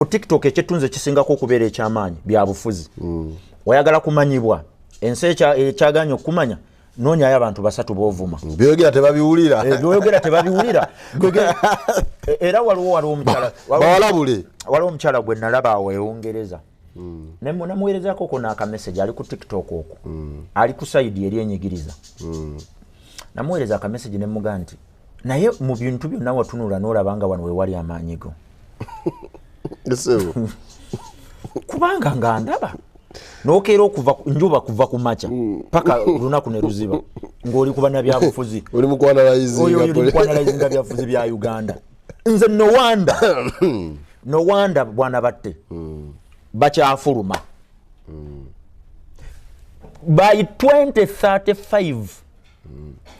ku tiktok ekyetunzi ekisingako okubeera ekyamaanyi byabufuzi mm. oyagala kumanyibwa ensi ekyaganya okukumanya nonyayo abantu basatu bovuma mm. byoyogera tebabiwulira eh, byoyogera tebabiwulira e, era waliwo waliwo omukyalawalabule waliwo omukyala gwe nalaba awo eungereza mm. namuwerezako kona akameseji ali ku tiktok oku ali ku saidi eri enyigiriza namuwereza akameseji nemuga nti naye mu bintu byonna watunula n'olaba nga wano wewali amaanyi go kubanga nga ndaba nokeera okuva njuba kuva ku makya mm. paka olunaku ne luziba ng'oli ku banabyabufuzi oli mukwanalayizinga byabufuzi bya uganda nze nowanda nowanda bwana batte mm. bakyafuluma mm. by 2035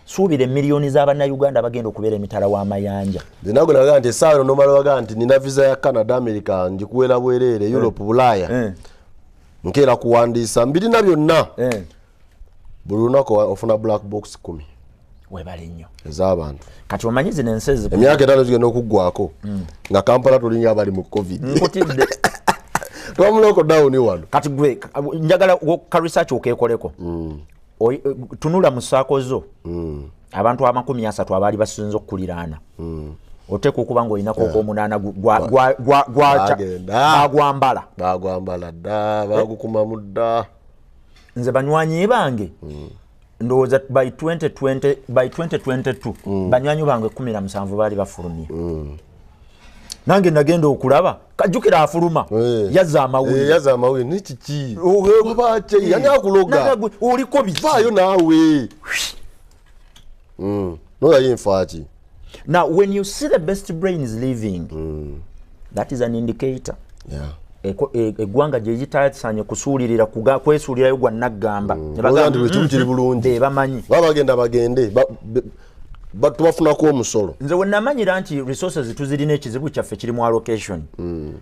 suubira emiliyoni z'abannayuganda abagenda okubeera emitala w'amayanja nago naga nti esaawa eno nomala waga nti nina visa ya canada america njikuwera bwereere europe eh. bulaaya eh. nkeera kuwandiisa mbirina byonna eh. buli lunaku ofuna black box kumi webale nnyo ez'abantu kati omanyi zino ensi emyaka etaano gigenda okuggwako hmm. nga kampala tulinga abali mu covid nkutidde twamuloko dawuni wano kati gwe njagala ka research okeekoleko hmm. Eh, tunula mu saako zo mm. abantu amakumi asatu abaali basinza okukuliraana mm. oteeka okuba nga olinako ogwomunaana gwagwambala bagwambala dda bagukumamu dda nze banywanyi bange mm. ndowooza by 2022 banywanyi bange kumi na musanvu baali bafulumye nange nagenda okulaba kajukira afuluma eh. yaza amawuliyaza eh, amawuli nikiki yani akuloga oliko bivaayo naawe hmm. noyayo enfaaki now when you see the best brain is living mm. that is an indicator yeah. E, eggwanga gyegitasaanye kusuulirira kwesuulirayo gwa naggamba mm. mm. bebamanyi baba bagenda bagende tubafunako omusolo nze wenamanyira nti resources tuzirina ekizibu kyaffe kiri mu allocation mm.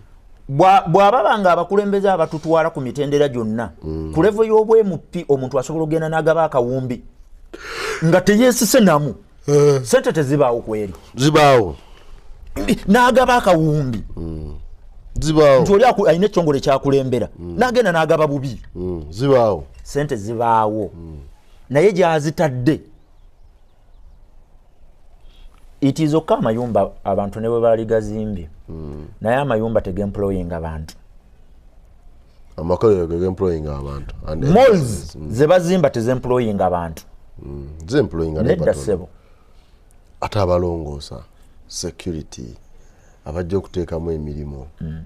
bwababa nga abakulembeze abatutwala ku mitendera gyonna mm. ku levo y'obwemupi omuntu asobola okugenda n'agaba akawumbi nga teyesise namu eh. sente tezibaawo kweri zibaawo n'agaba akawumbi mm. zibaawo nti oli alina ekitongole kyakulembera mm. n'agenda n'agaba bubi zibaawo sente zibaawo naye gyazitadde itizokka amayumba abantu ne bwe baali gazimbye hmm. naye amayumba tegemployinga bantu malls hmm. ze bazimba tezemployinga bantu hmm. nedda sebo ate abalongoosa security abajja okuteekamu emirimu mm.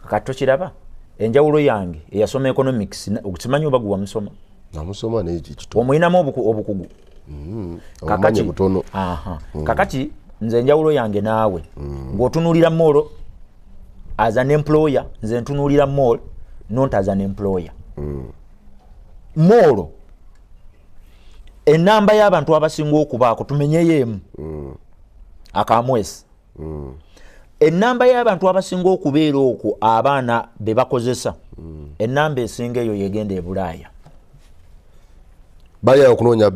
kati tokiraba enjawulo yange eyasoma economics okimanyi oba gwe wamusoma namusoma naye kikito omulinamu obukugu mm. kakati butono aha mm. kakati nze enjawulo yange naawe mm. ng'otunuulira mall as an employer nze ntunuulira mall not as an employer mm. mall enamba y'abantu abasinga okubaako tumenyeyo emu mm. akamwesi mm. enamba y'abantu abasinga okubeera okwo abaana be bakozesa mm. enamba esinga eyo yegenda ebulaaya balya okunoonya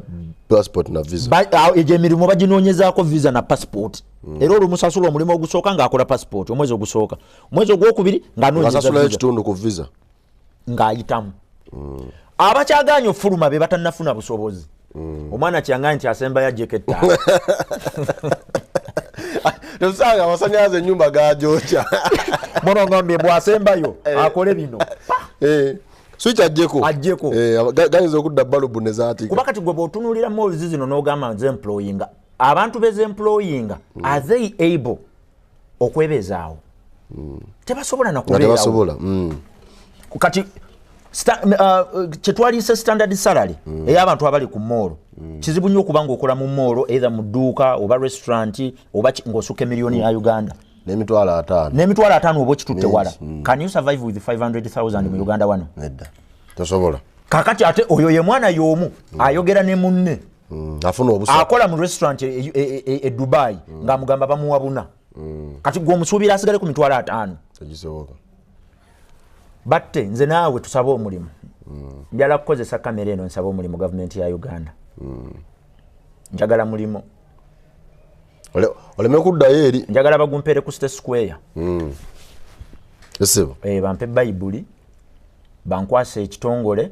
passport na visa egyo emirimu baginoonyezaako visa na passport mm. era olumusasula omulimu ogusooka ng'akola passport omwezi ogusooka omwezi ogwokubiri ng'anoonyeza ekitundu ku visa ng'ayitamu mm. abakyagaanya okufuluma be batanafuna busobozi mm. omwana kyangaye nti asembayo ajeko ettaano osanga amasanyalaze enyumba gajoca monogambye bwasembayo eh. akole bino eh. swiki ajjeko ajjeko eh, gayinza okudda balubu nezatika kuba kati gwe bwotunulira mozi zino nogamba nze employinga abantu bezemployinga mm. are they able okwebezaawo mm. tebasobola nakubeerawo mm. kati uh, kyetwaliise standard salary mm. ey'abantu abali ku moolo mm. kizibu nnyo okuba ngaokola mu moolo either mu dduuka oba restaurant oba ng'osukka emiliyoni mm. ya uganda n'emitwalo ataano n'emitwalo ataano oba okitutte wala mm. can you survive with 500000 mm. mu uganda wano nedda tosobola kakati ate oyo ye mwana y'omu mm. ayogera ne munne mm, akola mu restaurant e, e, e, e, e dubai mm. ngaamugamba bamuwa buna mm. kati gwe omusuubira asigale ku mitwalo ataano batte nze naawe tusabe omulimu mm. njala kukozesa kamera eno nsaba omulimu gavumenti ya uganda mm. njagala mulimu oleme kuddayo eri njagala bagumpere ku state square mm. esibo e, bampe bayibuli bankwasa ekitongole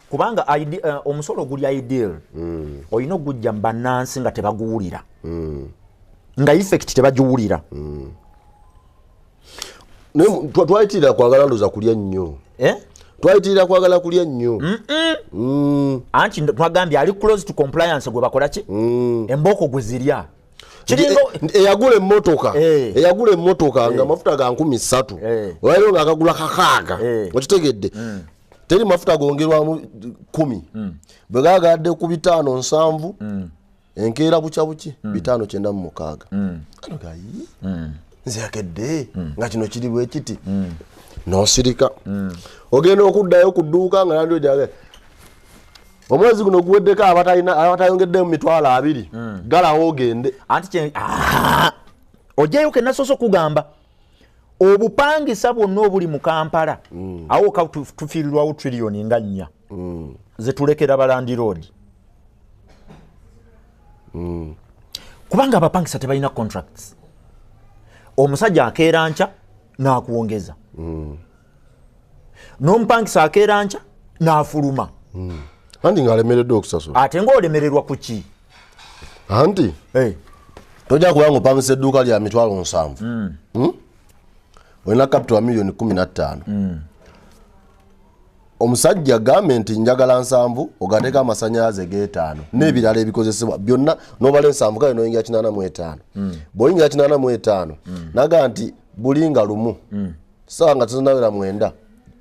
kubanga eh, omusolo guli ideal mm. olina okugujja mubanansi nga tebaguwulira mm. nga effect tebagiwulira mm. twayitirira kwagala ndoza kulya nnyo eh? twayitirira kwagala kulya nnyo mm. anti twagambye ali close to compliance gwe bakolaki mm. embooko gwe zirya eh, eyagula emotoka eh. eyagula emotoka nga eh. mafuta ga nkumi ssatu olwaliro nga akagula kakaaga okitegedde mm. teri mafuta gongerwamu kumi mm. bwe gagadde ku bitaano nsanvu mm. enkeera bukya buki mm. bitaano kyenda mu mukaaga mm. ano gayi mm. nze yakedde mm. nga kino kiri bwekiti mm. nosirika mm. ogenda okuddayo ku dduuka nga nandi ojage omwezi guno guweddeko abatayongeddemu mitwalo abiri mm. galawo ogende anti ah! ojayo kenasoose okugamba obupangisa bwonna obuli mu kampala mm. awo ka tufiirirwawo trillioni nga nnya mm. zetulekera balandiroodi mm. kubanga abapangisa tebalina contracts omusajja akeera nkya n'akuwongeza mm. n'omupangisa akeera nkya n'afuluma mm. andi ngaalemereddwa okusasula ate ngaolemererwa ku ki anti hey. tojja kuba nga opangisa edduuka lya mitwalo nsanvu mm. hmm? olina kapito wa miliyoni kumi nattaano mm. omusajja gambe nti njagala nsanvu ogateeka amasanyalaze getaano mm. n'ebirala ebikozesebwa byonna nobala ensanvu kale noyingira kinaana mu etaano mm. bwoyingira kinaana mu etaano mm. naga nti bulinga lumu mm. sawa nga tuzinaera mwenda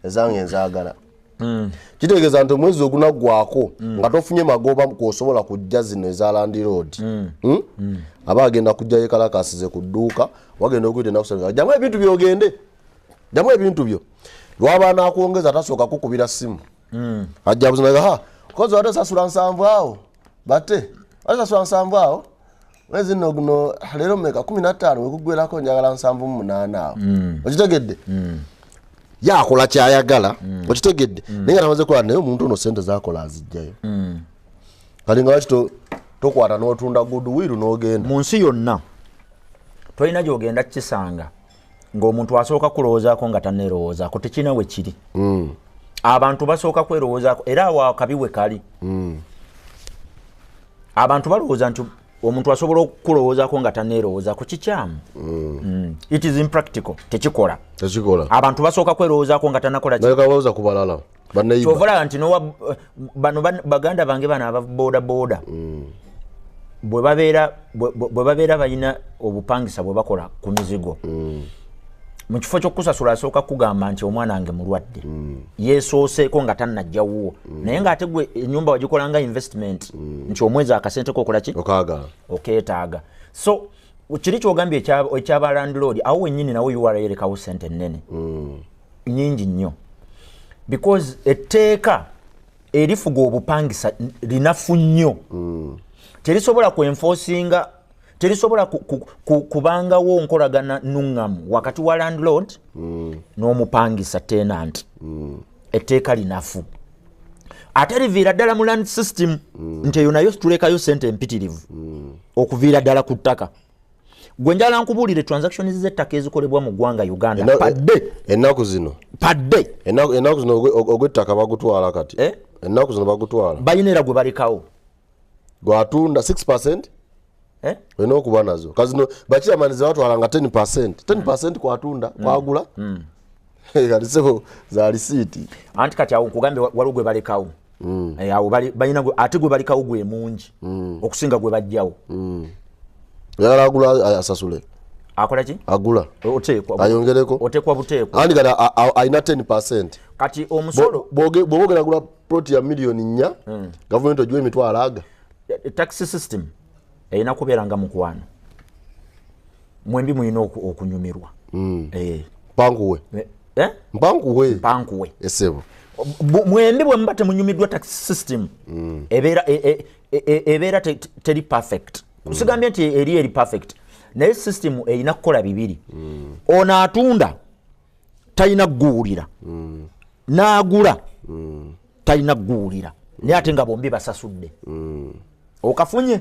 ezange enzaagala Mm. kitegeeza nti omwezi ogunaggwako mm. nga tofunye magoba kwosobola kujja zino eza landiroodi mm. hmm? mm. aba agenda kujja yekalakasize ku dduuka wagenda okuyita enakusa jamu ebintu byogende jamu ebintu byo lwaba nakwongeza tasooka kukubira simu mm. ajja buzinaga ha kozi wate sasula nsanvu awo bate wate sasula nsanvu awo mwezi nno guno leero meka kumi nattaano wekuggwerako njagala nsanvu mu munaana awo mm. okitegedde mm. yakola kyayagala mm. okitegedde mm. naye nga tamaze kola naye omuntu ono sente zakola azijjayo mm. kati nga wakito tokwata notunda goodwill nogenda mu nsi yonna tolina gyogenda kukisanga ng'omuntu asooka kulowoozaako nga taneerowoozaako tekirina we kiri mm. abantu basooka kwerowoozaako era awo akabi we kali mm. abantu balowooza nti omuntu asobola okukulowoozaako nga taneerowoozaako kikyamu mm. mm. it is impractical tekikola abantu basooka kwerowoozaako nga tanakola ku balala kyovolaba nti bano baganda bange bano ababoda boda mm. bwe babeera balina obupangisa bwe bakola ku mizigo mm. mu kifo kyokukusasula asooka kugamba nti omwana wange mulwadde mm. yesooseeko nga tannajja wuwo naye ngaate gwe enyumba wagikolanga investment nti omwezi akasente kokola ki okeetaaga so kiri kyogambye ekyabalandlord awo wenyini nawe urlekawo sente nene nyingi nnyo because etteeka erifuga obupangisa linafu nnyo mm. terisobola kwenfosinga terisobola kubangawo nkolagana nuŋŋamu wakati wa landlord mm. n'omupangisa tenant mm. etteeka linafu ate liviira ddala mu land system mm. nti eyo nayo situleekayo sente empitirivu mm. okuviira ddala ku ttaka gwe njala nkubuulire transactions z'ettaka ezikolebwa mu ggwanga uganda padde ennaku zino padde ennaku zino ogw'ettaka bagutwala kati eh? ennaku zino bagutwala balina era gwe balekawo gwatunda 6 percent eh? olina okuba nazo kazino bakiramanyi zebatwala nga 10 percent 10 percent kwatunda mm. kwagula mm. anti kati awo nkugambe waliwo gwe balekawo mm. eh, awo balina ate gwe balekawo gwe mungi mm. okusinga gwe bajjawo mm. yagala agula asasule akola ki agula oteekwa ayongereko oteekwa buteekwa andi kati alina 10 percent kati omusolo bwoba ogenda agula ploti ya miliyoni nnya gavumenti ogiwa emitwalo aga eh, taxi system erina kubeera nga mukwano mwembi mulina okunyumirwa mm. eh. mpankuwe eh, eh? mpankuwe mpankuwe esebo mwembi bwemuba temunyumiddwa tax system mm. ebeera e, e, e, ebeera teri perfect kusigambye nti eri eri perfect naye system erina kukola bibiri mm. ono atunda talina kuguwulira n'agula talina kuguwulira naye ate nga bombi basasudde okafunye